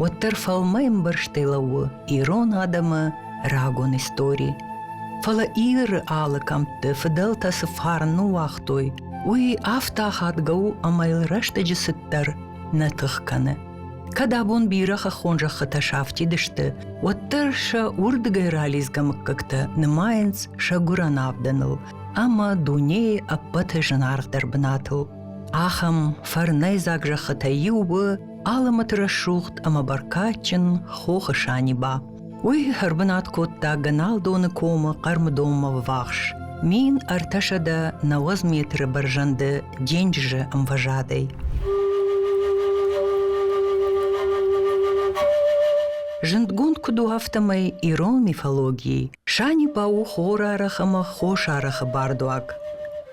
уӕддӕр фӕлмӕмбӕрзтӕй лӕууы ирон адӕмы рагон истори. Фӕлӕ Иры алы кӕмтты фыдӕлтӕ цы фарн уагътой, уый афтӕ ахадгӕ у ӕмӕ йыл рӕстӕджы цыддӕр нӕ тых кӕны. Кӕд абон бирӕ хӕххон зӕххытӕ сафтид сты, уӕддӕр сӕ уырдыгӕй ралидзгӕ мыггӕгтӕ нымайынц сӕ гуырӕн авдӕныл ӕмӕ дунейы ӕппӕты зынаргъдӕр бынатыл. Ахӕм фӕрнӕйдзаг зӕххытӕй иу у Алымыты рӕсугъд ӕмӕ бӕркадджын хохы Саниба. Уый ӕрбынат кодта Гӕналдоны комы хъӕрмыдонмӕ ввахс. Мин ӕртӕсӕдӕ нӕуӕдз метры бӕрзӕнды денджызы ӕмвӕзадӕй. Зындгонд куыд у афтӕмӕй ирон мифологийы, Саниба у хорарӕх ӕмӕ хосарӕхы бардуаг.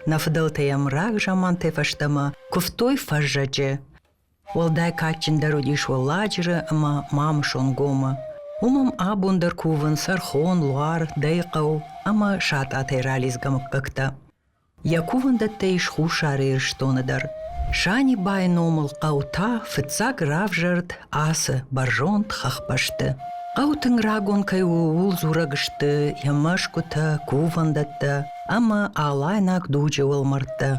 Нӕ фыдӕлтӕ йӕм рагзамантӕй фӕстӕмӕ куывтой фӕззӕджы, Уӕлдай кадджындӕр уыдис Уӕлладжыры ӕмӕ Мамысон гомы. Уым ӕм абон дӕр кувынц Ӕрхон, Луар, Дӕйыхъӕу ӕмӕ Сатъатӕй ралидзгӕ мыггӕгтӕ. Йӕ кувӕндӕттӕ ис Хуссар Ирыстоны дӕр. Санибайы номыл хъӕу та фыццаг равзӕрд ацы бӕрзонд хӕхбӕсты. Хъӕу тынг рагон кӕй у, ууыл дзурӕг сты йӕ мӕсгуытӕ, кувӕндӕттӕ ӕмӕ алайнаг дуджы уӕлмӕрдтӕ.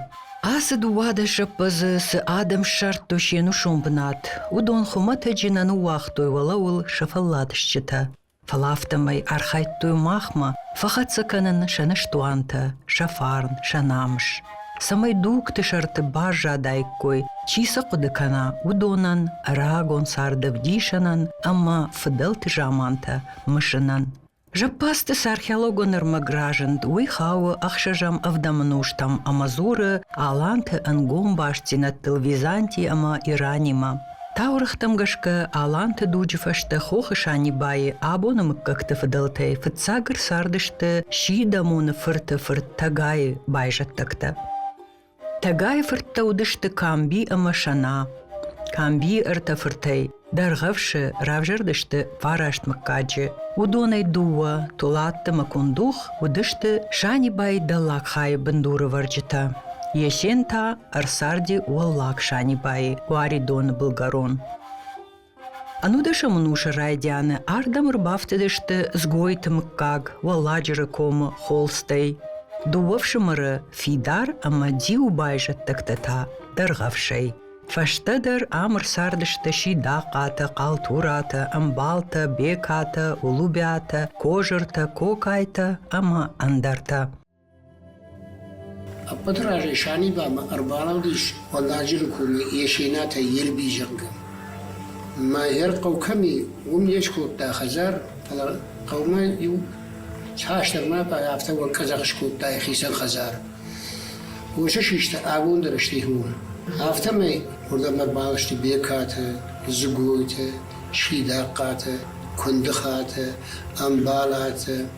Ацы дыууадӕс зӕппӕдзы цы адӕм ссардтой се нусон бынат, уыдон хуымӕтӕджы нӕ ныууагътой уӕлӕуыл сӕ фӕлладысджытӕ. Фӕлӕ афтӕмӕй архайдтой махмӕ фӕхӕццӕ кӕнын сӕ ныстуантӕ, сӕ фарн, сӕ намыс, цӕмӕй дугты сӕрты баззадаиккой, чи сӕ хъуыды кӕна, уыдонӕн, рагон царды ӕвдисӕнӕн ӕмӕ фыдӕлты замантӕ мысынӕн. Зӕппӕдзты цы археологон ӕрмӕг разынд, уый хауы ӕхсӕзӕм ӕвдӕмы нозтӕм ӕмӕ дзуры аланты ӕнгом бастдзинӕдтыл Византи ӕмӕ Иранимӕ. Таурӕгътӕм гӕсгӕ, аланты дуджы фӕстӕ хохы Санибайы абоны мыггӕгты фыдӕлтӕй фыццаг ӕрцардысты Сидӕмоны фырты фырт Тӕгайы байзӕддӕгтӕ. Тӕгайы фырттӕ уыдысты Камби ӕмӕ Сӕна. Камбийы ӕртӕ фыртӕй Дӕргъӕвсы равзӕрдысты фараст мыггаджы. Уыдонӕй дыууӕ, Тулатты ӕмӕ Кундух, уыдысты Санибайы Дӕллагхайы бындуры вӕрджытӕ. Есен та ӕрцарди Уӕллаг Санибайы, Уаридоны былгӕрон. Ӕнудӕсӕм ӕнусы райдианы ардӕм ӕрбафтыдысты Згойты мыггаг Уӕлладжыры комы холстӕй. Дыууӕ фсымӕры Фидар ӕмӕ Диу байзӕддӕгтӕ та дӕргъӕвсӕй. Фӕстӕдӕр ам ӕрцардысты Сидахъатӕ, Хъалтуратӕ, Ӕмбалтӕ, Бекатӕ, Улубиатӕ, Кожыртӕ, Кокайтӕ ӕмӕ ӕндӕртӕ. Ӕппӕты разӕй Санибамӕ ӕрбалӕудис Уӕлладжыры комы Есенатӕй Елбизӕнгом. Мӕгӕр хъӕу кӕм и, уым не скодта хӕдзар, фӕлӕ хъӕумӕ иу цасдӕрмӕ пъай афтӕ уӕнкъӕдзӕх скодта йӕхицӕн хӕдзар. Уыцы систы абон дӕр сты иууон. Афтӕмӕй уырдӕм ӕрбаласты Бекаты, Дзыгойты, Сидахъхъаты, Куындыхаты, Ӕмбалаты,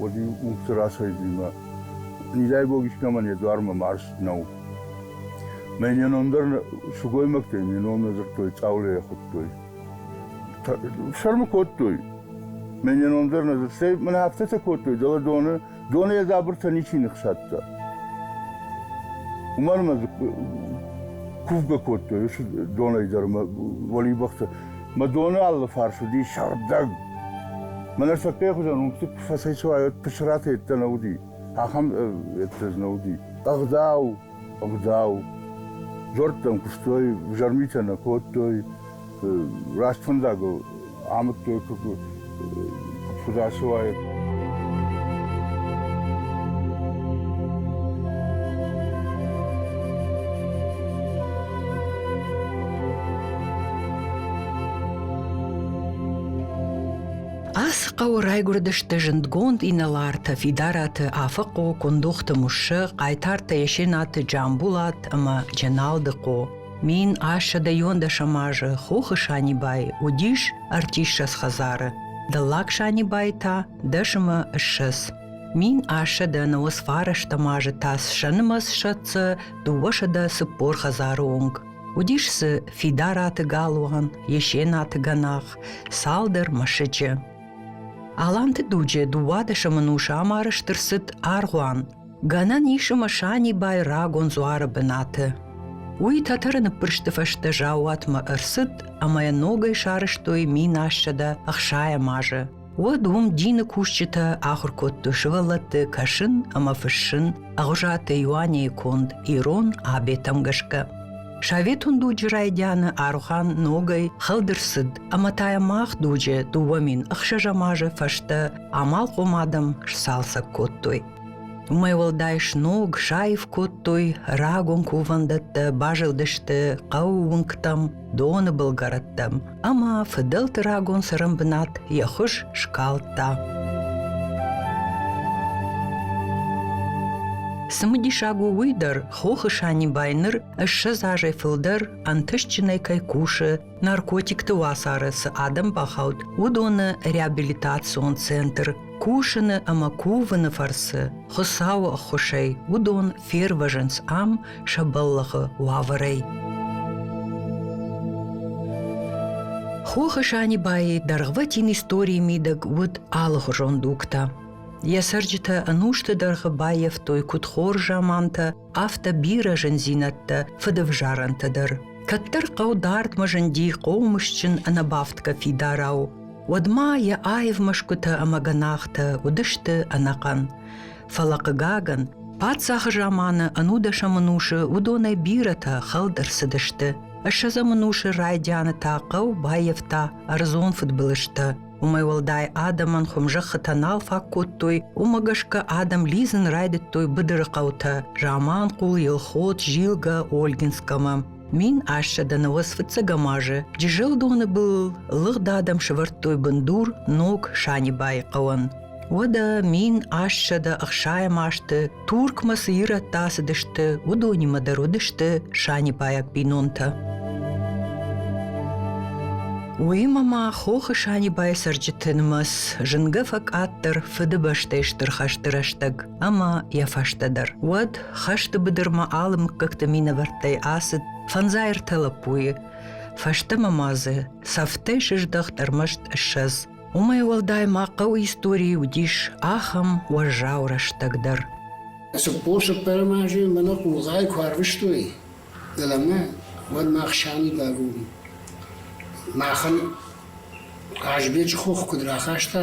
уӕд-иу уыпцы рацӕйдзимӕ низӕйгог искӕмӕн йӕ дуармӕ марст нӕу. Мӕ не ном дӕр сылгоймӕгтӕй не ном нӕ дзырдтой, Цъаулӕйӕ хуыдтой. Сӕрмы кодтой. Мӕ не ном дӕр нӕ дзырд. Цӕй, мӕнӕ афтӕтӕ кодтой, дӕлӕ доны, доны йӕ дзабыртӕ ничи ныхсадта. Уымӕн мӕ кувгӕ кодтой уыцы донӕй дӕр мӕ уӕлибӕхтӕ. Мӕ доны алы фарс уыди сыгъдӕг. Мӕнӕ сӕтгӕй хуызӕн уынгты фӕцӕй чи уайд, пысыраты йедтӕ нӕ уыди. Ахӕм йедтӕ дзы нӕ уыди. Ӕгъдау, ӕгъдау. Дзуӕрттӕм куыстой, взӕрмитӕ нӕ кодтой, раст фӕндагыл амыдтой, Фыдасы уайын. Ацы хъӕуы райгуырдысты зындгонд инӕлартӕ Фидараты Афыхъо, Кундохты Муссӕ, Хъайтарты Есенаты Джамбулат ӕмӕ Дженалды Хъо. Мин ассӕдӕйон дӕсӕм азы хохы Санибайы уыдис ӕртиссӕдз хӕдзары, дӕллаг Санибайы та дӕс ӕмӕ ссӕдз. Мин ассӕдӕны сфӕрӕзтӕм азы та сӕнымӕц сӕтцӕ дыууӕсӕдӕ цыппор хӕдзары онг. Уыдис дзы Фидараты галуан, Есенаты гӕнах, цалдӕр мӕсыджы. Аланты дуджы дыууадӕсӕмӕн ус амар стыр цыд аргъуан. Гӕнӕн ис ӕмӕ Санибай рагон дзуары бынаты. Уый тӕтӕры ныппырсты фӕстӕ заууатмӕ ӕрцыд ӕмӕ йӕ ногӕй сарӕзтой минассӕдӕ ӕхсайӕм азы. Уӕд уым дины кусджытӕ ахуыр кодтой сывӕллӕтты кӕсын ӕмӕ фыссын Ӕгъуызаты Иуанейы конд ирон абетӕм гӕсгӕ. Советон дуджы райдианы Арухан ногӕй хӕлд ӕрцыд ӕмӕ та йӕ мах дуджы дыууӕ мин ӕхсӕзӕм азы фӕстӕ амалхъом адӕм сцалцӕг кодтой. Уымӕй уӕлдай сног саив кодтой рагон кувӕндӕттӕ, базылдысты хъӕуы уынгтӕм, доны былгӕрӕттӕм, ӕмӕ фыдӕлты рагон цырын бынат йӕ хуыз скалдта. Цымыдисаг у уый дӕр, хохы Санибай ныр ссӕдз азӕй фылдӕр ӕнтыстджынӕй кӕй кусы наркотикты уацары цы адӕм бахауд, уыдоны реабилитацион центр кусыны ӕмӕ кувыны фӕрцы Хуыцауы ӕххуысӕй уыдон фервӕзынц ам сӕ бӕллӕхы уавӕрӕй. Хохы Санибайы дӕргъвӕтин историйы мидӕг уыд алыхуызон дугтӕ. Йӕ цӕрджытӕ ӕнусты дӕргъы баййӕфтой куыд хорз замантӕ, афтӕ бирӕ зындзинӕдтӕ, фыдывзарӕнтӕ дӕр. Кӕддӕр хъӕу дардмӕ зынди хъомысджын ӕнӕбафтгӕ фидарау. Уӕдмӕ йӕ аив мӕсгуытӕ ӕмӕ гӕнахтӕ уыдысты ӕнӕхъӕн. Фӕлӕ, хъыгагӕн, паддзахы заманы ӕнудӕсӕм ӕнусы уыдонӕй бирӕтӕ хӕлд ӕрцыдысты. Ссӕдзӕм ӕнусы райдианы та хъӕу баййӕфта ӕрдзон фыдбылызтӕ. Уымӕй уӕлдай адӕмӕн хуым зӕххытӕ нал фаг кодтой, уымӕ гӕсгӕ адӕм лидзын райдыдтой быдыры хъӕутӕ Заманхъул, Елхот, Зилгӕ, Ольгинскӕмӕ. Мин ассӕдӕны уӕз фыццӕгӕм азы Джызӕлдоны был лыгъд адӕм сывӕрдтой бындур ног Санибайы хъӕуӕн. Уӕдӕ мин ассӕдӕ ӕхсайӕм азты Туркмӕ цы ирӕттӕ ацыдысты, уыдонимӕ дӕр уыдысты санибайаг бинонтӕ. Уыимӕ ма хохы Санибайы цӕрджыты нымӕц зынгӕ фӕкъаддӕр Фыдыбӕстӕйы Стыр хӕсты рӕстӕг. ӕмӕ йӕ фӕстӕдӕр. Уӕд хӕсты быдырмӕ алы мыггӕгты минӕвӕрттӕй ацыд фӕндзаертӕ лӕппуйы. Фӕстӕмӕ ма дзы сӕфтӕй сыздӕхт ӕрмӕст ссӕдз. Уымӕй уӕлдай ма хъӕуы историйы уыдис ахӕм уӕззау рӕстӕг дӕр. Цыппорсыппӕрӕм азы мӕнӕ хъулгъайы куы арвыстой дӕлӕмӕ, уӕд мах сӕмидӕг уым. Махӕн Хъазбеджы хох куыд рахаста,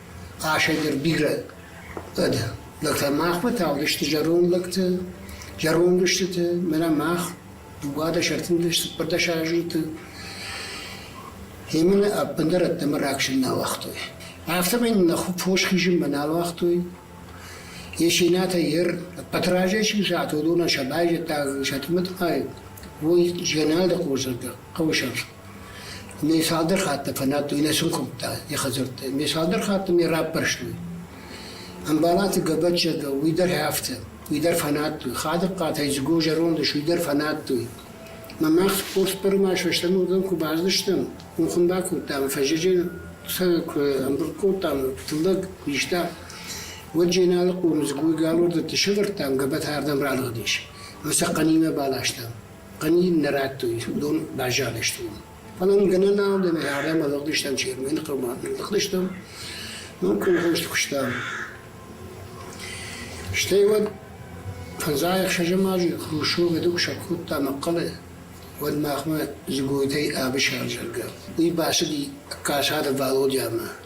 Хъӕсӕй дӕр бирӕ дӕ. Лӕг та махмӕ тагъдысты зӕронд лӕгтӕ, зӕронд устытӕ, мӕнӕ мах, дыууадӕс, ӕртындӕс, цыппӕрдӕс азыты. Гъемӕ нӕ ӕппындӕр ӕддӕмӕ раксын нӕ уагътой. Афтӕмӕй нын нӕ фос хизын мӕ нал уагътой. Есенатӕ йер ӕппӕт разӕй сӕ адонӕн сӕ байзӕддаг сӕ тымыдмай, уой згӕнӕлды хосзӕрдӕ хъӕуы сӕрфт. Ме цалдӕр хатты фӕнадтой нӕ сын куымдта йӕ хӕдзӕртты. Ме цалдӕр хатты ме раппӕрстой. Ӕмбалаты Гӕбӕтчызг уый дӕр афтӕ, уый дӕр фӕнадтой. Хадыгхъатӕй Дзыго зӕронд ис, уый дӕр фӕнадтой. Мӕ мах Хосбыры ма сӕстӕн уыдон куы баздыстӕм, уым хуым бакодтам, фӕззӕджы сӕ куы ӕмбырд кодтам, тыллӕг куы иста, уӕд Дженалы хъуыры Дзыгойы галур дӕтты сӕвӕрдтам, Гӕбӕт ардӕм ралыгъдис. Ӕмӕ сӕ хъӕнимӕ баластам. Ани нӕ радтой, уыдон баззадысты уым. Фӕлӕ нын гӕнӕн нал дӕн, ардӕм ӕрлыгъдыстӕм Чермены хъӕумӕ. Ӕрлыгъдыстӕм, ном колхозты куыстам. Стӕй уӕд фӕндзай-ӕхсӕзӕм азы Хрущевы дуксаг кодта Мӕхъхъӕлы, уӕд махмӕ Дзыгойтӕй Ӕвысӕр зӕгъгӕ, уый бацыди Касады Валодямӕ.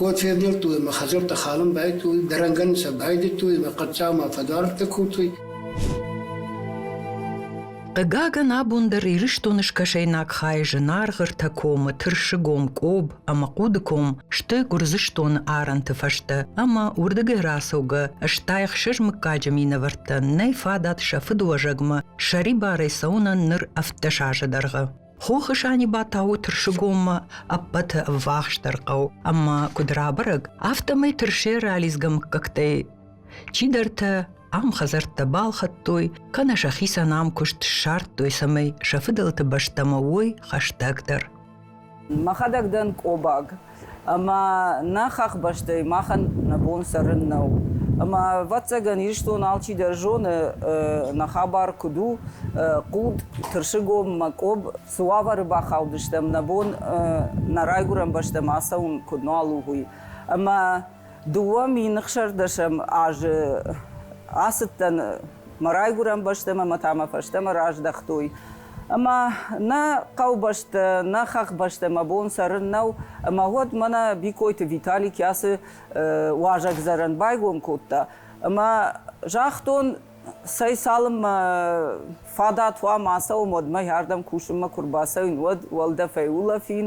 Уӕд февнӕлдтой ӕмӕ хӕдзӕрттӕ халын байдыдтой, дӕрӕнгӕн сӕ байдыдтой ӕмӕ хъӕддзаумӕ фӕдаргътӕ кодтой. Хъыгагӕн, абон дӕр Ирыстоны скӕсӕйнаг хайы зынаргъыртӕ комы Тырсыгом, Къоб ӕмӕ Хъудыком сты Гуырдзыстоны арӕнты фӕстӕ ӕмӕ уырдыгӕй рацӕугӕ стайӕхсӕз мыггаджы минӕвӕрттӕ нӕй фадат сӕ фыдыуӕзӕгмӕ сӕрибарӕй цӕуынӕн ныр ӕвддӕс азы дӕргъы. Хохы Саниба тауы тырсыгоммӕ ӕппӕты ӕввахсдӕр хъӕу ӕмӕ куыд рабӕрӕг, афтӕмӕй тырсе ралидзгӕ мыггӕгтӕй чидӕртӕ ам хӕдзӕрттӕ балхӕдтой, кӕнӕ сӕхицӕн ам куыст ссардтой, цӕмӕй сӕ фыдӕлты бӕстӕмӕ уой хӕстӕгдӕр. Мӕхӕдӕг дӕн Къобаг. ӕмӕ нӕ хӕхбӕстӕй махӕн нӕ бон цӕрын нӕу. Ӕмӕ, ӕвӕццӕгӕн, Ирыстон алчидӕр зоны, нӕ хабар куыд у, хъуд, тырсыгом, мӕкъуыб, цы уавӕры бахаудыстӕм, нӕ бон нӕ райгуырӕн бӕстӕмӕ ацӕуын куыд нал у, уый. Ӕмӕ Дыууӕ мин ӕхсӕрдӕсӕм азы ацыдтӕн мӕ райгуырӕн бӕстӕмӕ мӕ та мӕ фӕстӕмӕ раздӕхтой. Ӕмӕ нӕ хъӕубӕстӕ, нӕ хӕхбӕстӕ мӕ бон цӕрын нӕу, ӕмӕ уӕд мӕнӕ Бикойты Витали кӕцы уазӕгдзӕрӕн байгом кодта. Ӕмӕ загътон, цӕй цалынмӕ фадат уа ма ацӕуын, уӕдмӕ ӕрдӕм кусынмӕ куы рбацӕуин, уӕд уӕлдӕфӕй улӕфин,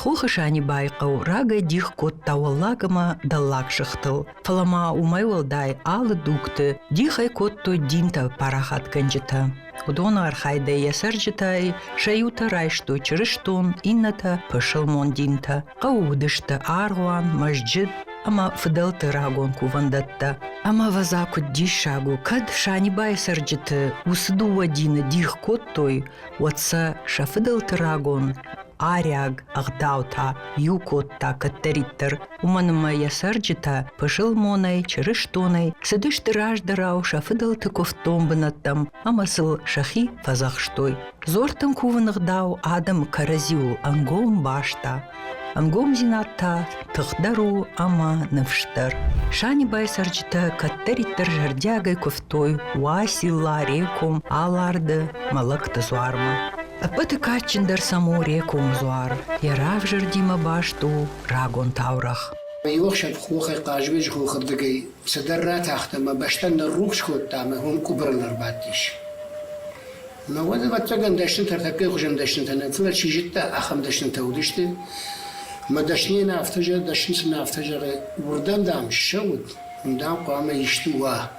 Хохы Санибайы хъӕу рагӕй дих кодта уӕллаг ӕмӕ дӕллаг сыхтыл, фӕлӕ ма уымӕй уӕлдай алы дугты дих ӕй кодтой динтӕ парахатгӕнджытӕ. Уыдоны архайдӕй йӕ цӕрджытӕй сӕ иутӕ райстой чырыстон, иннӕтӕ пысылмон динтӕ. Хъӕуы уыдысты аргъуан, мӕсджыт ӕмӕ фыдӕлты рагон кувӕндӕттӕ. Ӕмӕвӕдза куыд диссаг у, кӕд Санибайы цӕрджыты уыцы дыууӕ дины дих кодтой, уӕд сӕ сӕ фыдӕлты рагон арӕг ӕгъдаутӕ иу кодта кӕддӕриддӕр, уымӕн ӕмӕ йӕ цӕрджытӕ пысылмонӕй, чырыстонӕй цыдысты раздӕрау сӕ фыдӕлты куывддон бынӕттӕм ӕмӕ сыл сӕхи фӕдзӕхстой. Дзортын кувыны гъдау адӕмы кӕрӕдзиуыл ӕнгом баста. Ӕнгомдзинад та тыхдӕр у ӕмӕ ныфсдӕр. Санибайы цӕрджытӕ кӕддӕриддӕр зӕрдиагӕй куывтой Уаси Ларе ком Аларды мӕлӕтты дзуармӕ. Ӕппӕты кадджындӕр сӕм у Рекомы дзуар. Йӕ равзӕрдимӕ баст у рагон таурӕгъ. Иу ӕхсӕв хохӕй хъазыны згъулы рдыгӕй Цыдӕр ратахтам ӕмӕ бӕстӕ ныррухс кодта ӕмӕ уым къуыбырыл ӕрбадтис. Мӕнӕн, ӕвӕццӕгӕн, дӕснытӕ ӕртӕккӕйы хуызӕн дӕснытӕ нӕ, фӕлӕ чи зыдта, ахӕм дӕснытӕ уыдысты. Мӕ дӕсныйӕ нӕ афтӕ зӕгъы, дӕсны цы нӕ афтӕ зӕгъы, уырдӕм, дам, ссӕуыд, уым, дам, хъуамӕ исты уа.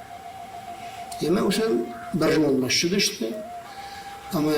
Йемӕ усӕн бӕрзондмӕ ссыдысты ӕмӕ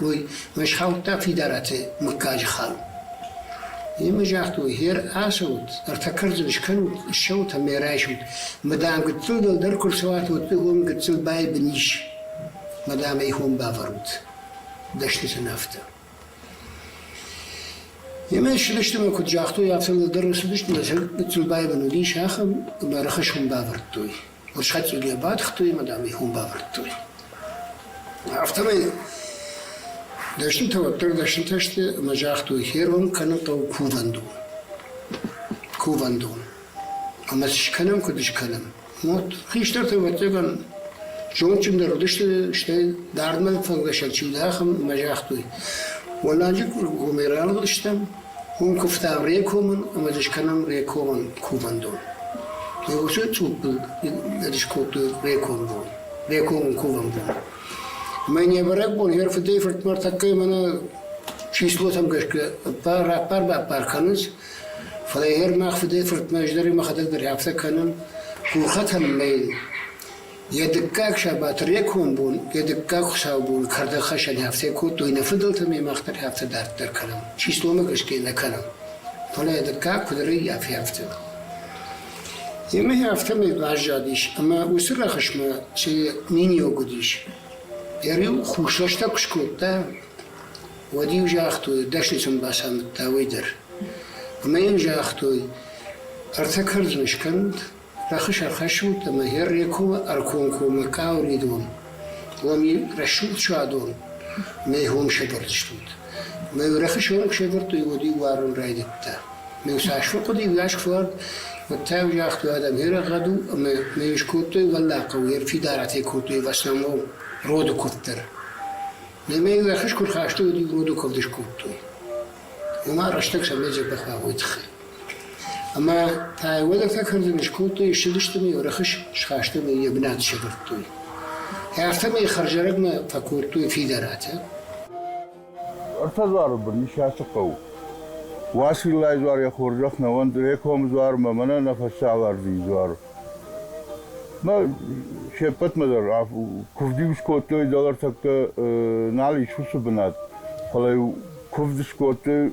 Уой схаудта Фидарати мыггаджы хал. Имӕ загътой, гъер ацӕут, ӕртӕ кӕрдзын скӕнут, ссӕут ӕмӕ райсут. Мадам гыццыл дӕлдӕр куы рцӕуат, уӕд уым гыццыл байбын ис. Мадам ӕй хон бавӕрут. Дӕстытӕн афтӕ. Имӕ ссыдысты ӕмӕ куыд загътой, афтӕ дӕлдӕр ссыдысты, мӕ сӕр гыццыл байбын уыдис, ахӕм, ӕмӕ рӕхыс хон бавӕрдтой. Мышхачъиги бадхтой ӕмӕ, дам, их уым бавӕрдтой. Афтӕмӕй дӕснытӕ уӕддӕр дӕснытӕ сты ӕмӕ загътой, хӕрон кӕнын хъӕуы кувӕндон. Кувӕндон. Ӕмӕ скӕнӕм, куыд скӕнӕм? Мот. Хистӕртӕ, ӕвӕццӕгӕн, зондджындӕр уыдысты, стӕй дардмӕ фӕлгӕсӕн чи уыд, ахӕм, ӕмӕ загътой, уӕлланджы гомӕй ралыгъдыстӕм, Уым куывтам Рекомын ӕмӕ ӕд скӕнӕм Рекомӕн кувӕндон. Леуышы цъуппыл ӕд скодтой Рекомы бон, Рекомын кувӕн бон. Мӕ не бӕрӕгбон хӕр фыдӕй-фыртмӕ тӕккӕ мӕнӕ числотӕм гӕсгӕ ӕппар, раппар-баппар кӕнынц, фӕлӕ хӕр мах фыдӕй-фыртмӕ ӕз дӕр мӕхӕдӕг дӕр афтӕ кӕнын, гурхӕтӕм мӕйыл. Йӕ дыккаг сабаты рекон бон йӕ дыккаг хуыцаубоны кӕрдӕгхӕссӕг афтӕ кодтой нӕ фыдӕлтӕ ӕмӕ мах дӕр афтӕ дарддӕр кӕнӕм, чи сомы гӕсгӕ нӕ кӕнӕм. Фӕлӕ йӕ дыккаг куыд рӕййафы, афтӕ. Емӕ афтӕмӕй баззадис ӕмӕ уыцы рӕхысмӕ сӕ миниуӕг уыдис. Йӕ риу хуссӕстӕг куы скодта, уӕд-иу загътой, дӕсны сын бацамыдта уый дӕр. Ӕмӕ йын загътой, ӕртӕ кӕрдзын скӕнут, Рӕхыс ӕрхӕссут ӕмӕ Ер-Рекомы ӕркомкоммӕ куы ауыридон, уӕм йын рӕсугъд суадон мӕ хом сӕвӕрдзыстут. Мӕ рӕхыс онг сӕвӕрдтой, уӕд-иу уарын райдыдта. Ме сасфын къуыди уӕз куы суад, уӕд та-иу загътой, адӕм ерӕггъӕд у ӕмӕ мӕ скодтой уӕллаг хъӕу, ер фидаратӕй кодтой в основном роды куывд дӕр. Ме мӕ рӕхыс куы рхастой, уӕд-иу роды куывд скодтой. Уымӕ рӕстӕг сӕ мӕ зӕрдӕ хуагъой тыххӕй. Ӕмӕ та йӕ уӕлӕртӕ кӕрдӕны скодтой, ссыдысты ма йӕ рӕхыс схаста ӕмӕ йӕ бынат сӕвӕрдтой. Афтӕ ма йӕ хӕрзӕрӕгмӕ фӕкодтой фидаратӕ. Ӕртӕдзары бын Исасы хъӕу. Уациллайы дзуар йӕ хорзӕх нӕ уӕнд, Рекомы дзуар мӕ мӕнӕ нӕ фӕсӕвӕрдин дзуар. Мӕ се ппӕтмӕ дӕр куывд-иу скодтой, дӕлӕ тӕккӕ нал ис уыцы бынат, фӕлӕ-иу куывд скодтой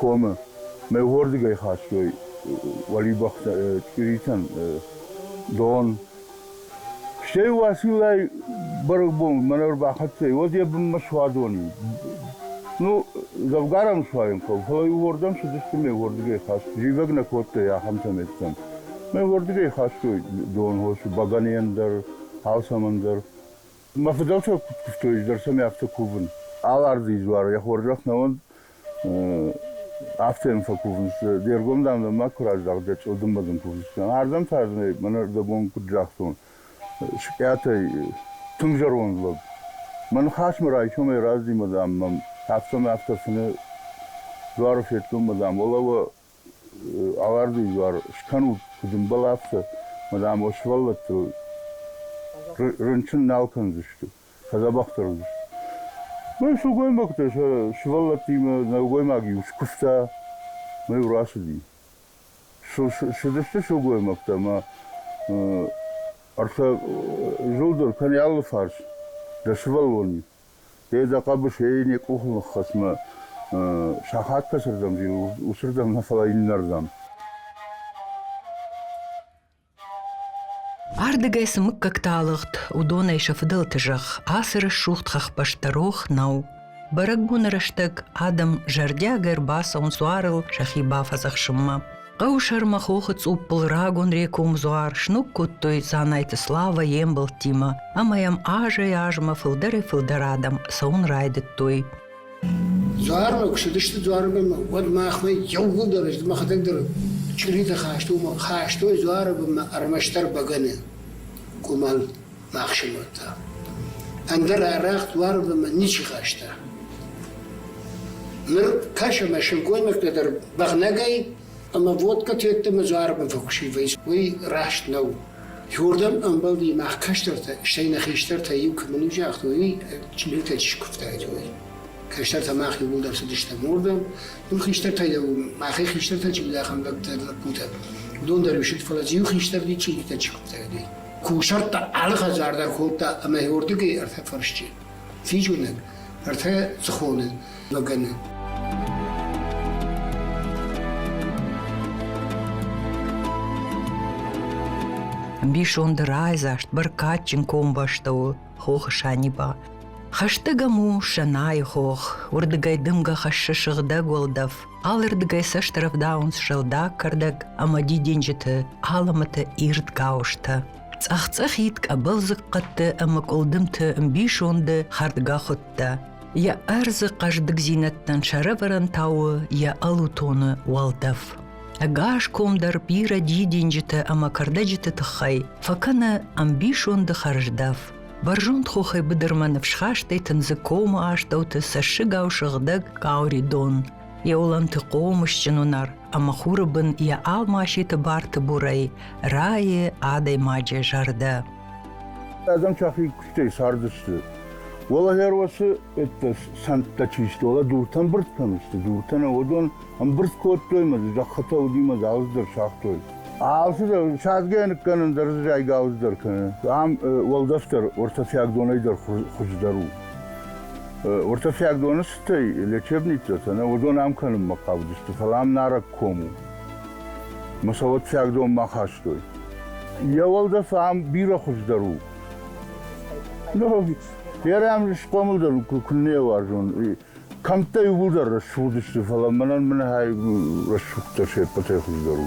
комы. Мӕ уордыгӕй хастой уӕлибӕхтӕ чъиритӕн дон. Стӕй Уациллайы бӕрӕгбон мӕнӕ ӕрбахӕццӕ, уӕд йӕ бынмӕ суадон и. Ну, дзӕвгар ӕм суайын хъӕуы, фӕлӕ уырдӕм цыдысты ме уырдыгӕй хаст. Зивӕг нӕ кодтой ахӕмтӕ мӕттӕм. Мӕ уырдыгӕй хастой донхосы, бӕгӕныйӕн дӕр, алцӕмӕн дӕр. Мӕ фыдӕлтӕ куыд куывтой, ӕз дӕр сӕм афтӕ кувын. Алардзыйы дзуары йӕ хорзӕх нӕ уӕнд, Афтӕ фӕкувын сты, де ргом, дам, дӕ ма куы раздӕх, дӕ чъылдымбӕдын кувдзыстӕм. Ардӕм та дзы нӕ мӕнӕ дӕ бон куыд загътон, Скъӕтӕй тынг зӕронд лӕг. Мӕ ныхасмӕ райсомӕй раздзимӕ, дам, мӕм афтӕ-ма афтӕ фыны дуары федтон, мӕ дам, уӕлӕ уӕ Аларды изӕр скӕнут, куыд ӕмбӕл, афтӕ, мадам, уӕ сывӕллӕттыл рынчын нал кӕндзысты, фӕдзӕбӕхдӕр уыдзысты. Мӕ сылгоймӕгтӕ сӕ сывӕллӕттимӕ нӕлгоймаг-иу скуыста мӕ-иу рацыди. Цыдысты сылгоймӕгтӕ ӕмӕ ӕртӕ зылд дӕр кӕнӕ алы фарс, дӕ сывӕллон-иу. Федза хъӕбысӕй йын йӕ къухы ныххӕцмӕ сахат фӕцырдӕм зил, уыцырдӕм нӕ, фӕлӕ иннӕрдӕм. Ардыгӕй цы мыггӕгтӕ алыгъд, уыдонӕй сӕ фыдӕлты зӕхх ацы рӕсугъд хӕхбӕсты рох нӕу. Бӕрӕгбоны рӕстӕг адӕм зӕрдиагӕй ӕрбацӕуынц уарыл сӕхи бафӕдзӕхсынмӕ. Хъӕусӕрмы хохы цъуппыл рагон рекомдзуар сног кодтой Дзанайты Слава йе мбӕлттимӕ ӕмӕ йӕм азӕй-азмӕ фылдӕрӕй-фылдӕр адӕм цӕуын райдыдтой. Дзуармӕ куы цыдысты дзуармӕ, уӕд махмӕ иууылдӕр мӕхӕдӕг дӕр чъиритӕ хастой, хастой дзуары бынмӕ ӕрмӕстдӕр бӕгӕны къуымӕл. бахсивыдта. Ӕндӕр арӕх дуармӕ мӕ ничи хаста. Ныр кӕсы мӕ сылгоймӕгтӕ дӕр бӕгънӕгӕй ӕмӕ водкӕ тедтӕмӕ дзуармӕ фӕкусивӕйц, уый раст нӕу. Уырдӕм ӕмбӕлди мах кӕстӕртӕ, стӕй нӕ хистӕртӕ иу кӕмӕн у загътой, уый чъиритӕ чи куывтаид, уый. Кӕстӕртӕ мах иууылдӕр цыдыстӕм уырдӕм, уым хистӕртӕ йӕ махӕй хистӕртӕ чи уыд, ахӕм лӕппутӕ. Уыдон дӕр исыд, фӕлӕ иу хистӕр чи чъиритӕ чи куывтаид, уый. кусӕрттӕ алы хӕдзар дӕр кодта ӕмӕ уырдыгӕй ӕртӕ фӕрсчы физгуынӕг, ӕртӕ цыхоны лӕгӕны. Бисонды райдзаст бӕркадджын комбӕстӕуы хохы Саниба. Хӕстӕгӕм у Сӕнайы хох, уырдыгӕй дымгӕ хӕссы сыгъдӕг уӕлдӕф. Алырдыгӕй цӕсты рӕвдауынц сыгъдӕг кӕрдӕг ӕмӕ дидинджыты алымыты ирд гауызтӕ. Цъӕх-цъӕхид къӕбылдзыхъхъӕдты ӕмӕ къуылдымты ӕмбисонды хӕрдгӕхуыдтӕ. Йӕ ӕрдзы хъӕздыгдзинӕдтӕн сӕрӕвӕрӕн тауы йӕ ӕлутоны уӕлдӕф. Ӕгас ком дӕр бирӕ дидинджыты ӕмӕ кӕрдӕджыты тыххӕй фӕкӕны ӕмбисонды хӕрздӕф. Бӕрзонд хохӕй быдырмӕ ныфсхастӕй тындзы комы астӕуты цӕссыгау сыгъдӕг къаури дон, йӕ уылӕнты хъомысджын уынар ӕмӕ хуры бын йӕ алмаситы барты бурӕй райы адӕймаджы зӕрдӕ. Адӕм сӕхи куыстӕй цардысты. Уӕлӕ гӕр уӕсы это сӕнттӕ чи сты, уӕлӕ дуртӕн бырд кӕм сты, дуртӕ нӕ уыдон Ӕмбырд кодтой мӕ зӕххытӕ уыди мӕ гауыз дӕр цагътой. Алчидӕр садзгӕ ныккӕнын дӕр дзы зайгауыз дӕр кӕны. Ам уӕлдӕфдӕр ортафиаг донӕй дӕр хуыздӕр у. Ортафиаг доны цытӕй лечебницӕтӕ нӕ уыдон ам кӕнынмӕ хъавыдысты, фӕлӕ ам нарӕг ком у. Мӕ сауӕтфиаг дон ма хастой. Йӕ уӕлдӕф ам бирӕ хуыздӕр у. Ну, ферӕм схъомылдӕр куыннӕ уарзон. Кӕмттӕй уылдӕр рӕсугъдысты, фӕлӕ мӕнӕн мынӕгӕй рӕсугъдтӕ се ппӕтӕй хуыздӕр у.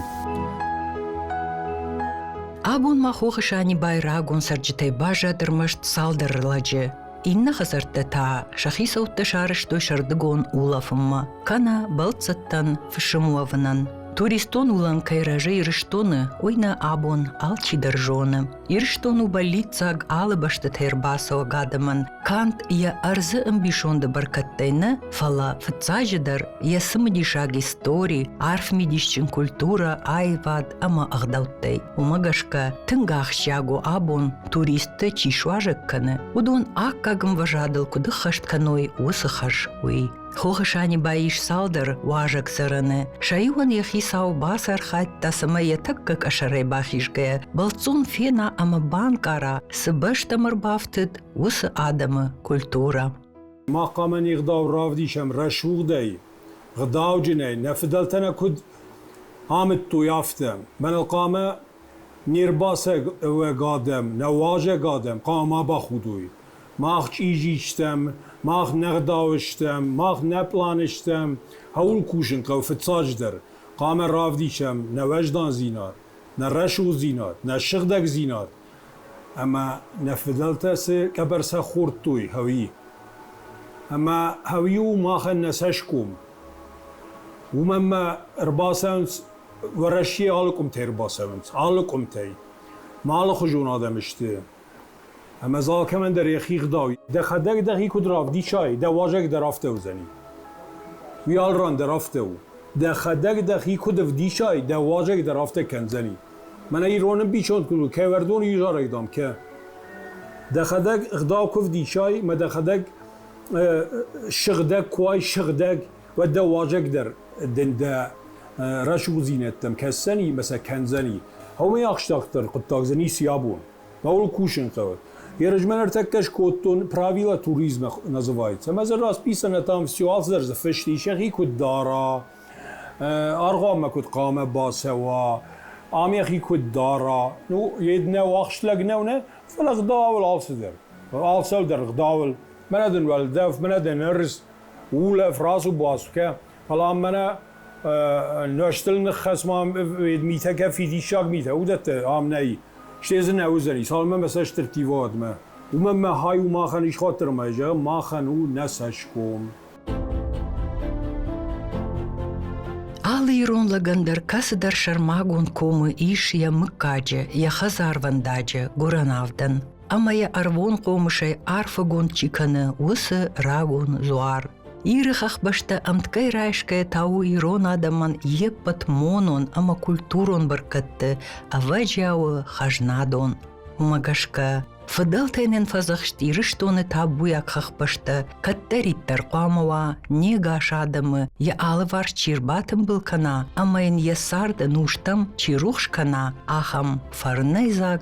Абон ма хохы Санибайы рагон цӕрджытӕй баззад ӕрмӕст цалдӕр лӕджы. Иннӕ хӕдзӕрттӕ та сӕ хицӕуттӕ сарӕзтой сӕрдыгон улӕфынмӕ, кӕнӕ бӕлццӕттӕн фысым уӕвынӕн. Туристон уылӕн кӕй рӕзы Ирыстоны, уый нӕ абон алчидӕр зоны. Ирыстон у бӕллиццаг алы бӕстӕтӕй ӕрбацӕуӕг адӕмӕн канд йӕ ӕрдзы ӕмбисонды бӕркӕдтӕй нӕ, фӕлӕ, фыццаджыдӕр, йӕ цымыдисаг истори, арф мидисджын культурӕ, аивад ӕмӕ ӕгъдӕуттӕй. Уымӕ гӕсгӕ тынг ахсджиаг у абон, туристтӕ чи суазӕг кӕны, уыдон аккаг ӕмвӕзадыл куыд ӕххӕст кӕной уыцы хӕс, уый. Хохы Санибайы ис цалдӕр уазӕгдзӕрӕны. Сӕ иуӕн йӕ хицау бацархайдта, цӕмӕй йӕ тӕккӕ къӕсӕрӕй бахизгӕйӕ бӕлццон фена ӕмӕ банкъара, цы бӕстӕм ӕрбафтыд, уыцы адӕмы культурӕ. Мах хъуамӕ не гъдау равдисӕм рӕсугъдӕй, гъдауджынӕй, нӕ фыдӕлтӕ нӕ куыд амыдтой, афтӕ. Мӕнӕ хъуамӕ Не рбацӕг ӕвӕг адӕм, нӕ уазӕг адӕм хъуамӕ бахудой. Мах чъизи стӕм, мах нӕ гъдауы стӕм, мах нӕ пъланы стӕм, хъӕуыл кусын хъӕуы фыццаджыдӕр. Хъуамӕ равдисӕм нӕ уӕздандзинад, нӕ рӕсугъддзинад, нӕ сыгъдӕгдзинад ӕмӕ нӕ фыдӕлтӕ цы къӕбӕр сӕ хордтой, хъӕуи. Ӕмӕ хъӕуи у махӕн нӕ цӕсгом. Уымӕн ма ӕрбацӕуынц Уӕрӕсейы алы къуымтӕ ӕрбацӕуынц, алы къуымтӕй. Ма алыхуызон адӕм сты. Ӕмӕ дзы алкӕмӕн дӕр йӕхи ӕгъдау ис. Дӕхӕдӕг дӕхи куыд равдисай, дӕ уазӕг дӕр афтӕ уыдзӕни. Уый алы ран дӕр афтӕ у. Дӕхӕдӕг дӕхи куыд ӕвдисай, дӕ уазӕг дӕр афтӕ кӕндзӕни. Мӕнӕ ирон ӕмбисонд куыд у: «Кӕвӕрдоны изӕрӕй, дам, кӕ». Дӕхӕдӕг ӕгъдау куы ӕвдисай, ӕмӕ дӕхӕдӕг сыгъдӕг куы уай, сыгъдӕг. уӕд дӕ уазӕгдӕр дын дӕ рӕсугъддзинӕдтӕм кӕсдзӕни ӕмӕ сӕ кӕндзӕни. Аумӕй ӕхстарддӕр хъуыддаг дзы ницы абон. Науыл кусын хъӕуы. Ерысмӕн ӕртӕккӕ скодтон правила туризма называется. Ӕмӕ дзы расписано там все аздӕр дзы фыст ис, йӕхи куыд дара, аргъуанмӕ куыд хъуамӕ бацӕуа, ам йӕхи куыд дара. Ну, йед нӕу ахст лӕг нӕу, нӕ? Фӕлӕ гъдауыл алцыдӕр. Алцӕу дӕр гъдауыл. Мӕнӕ дын уӕлдӕф, мӕнӕ дын рыст. улӕ фразу басгӕ палан мӕнӕ нӕстыл ныххӕц ма митӕ кӕ фидиссаг митӕ уыдӕттӕ ам нӕй стӕй дзы нӕ уыдзӕни цалынмӕ мӕ цӕсты рттивадмӕ уымӕн мӕ хай у махӕн исхатырмӕ зӕгъ махӕн у нӕ цӕсгом алы ирон лӕгӕн дӕр кӕцыдӕр сӕрмагонд комы ис йӕ мыггаджы йӕ хӕдзарвӕндаджы гуырӕн авдӕн ӕмӕ йӕ ӕрвон хъомысӕй арфӕгонд чи кӕны, уыцы рагон дзуар. Иры хӕхбӕстӕ ӕмткӕй райсгӕ та у ирон адӕмӕн йе ппӕт монон ӕмӕ культурон бӕркӕдты ӕвӕджиауы хӕзнадон. Уымӕ гӕсгӕ фыдӕлтӕй нын фӕдзӕхст Ирыстоны табуйаг хӕхбӕстӕ кӕддӕриддӕр хъуамӕ уа не гас адӕмы йӕ алыварс чи рбатымбыл кӕна ӕмӕ йын йӕ царды нузтӕм чи рухс кӕна, ахӕм фӕрнӕйдзаг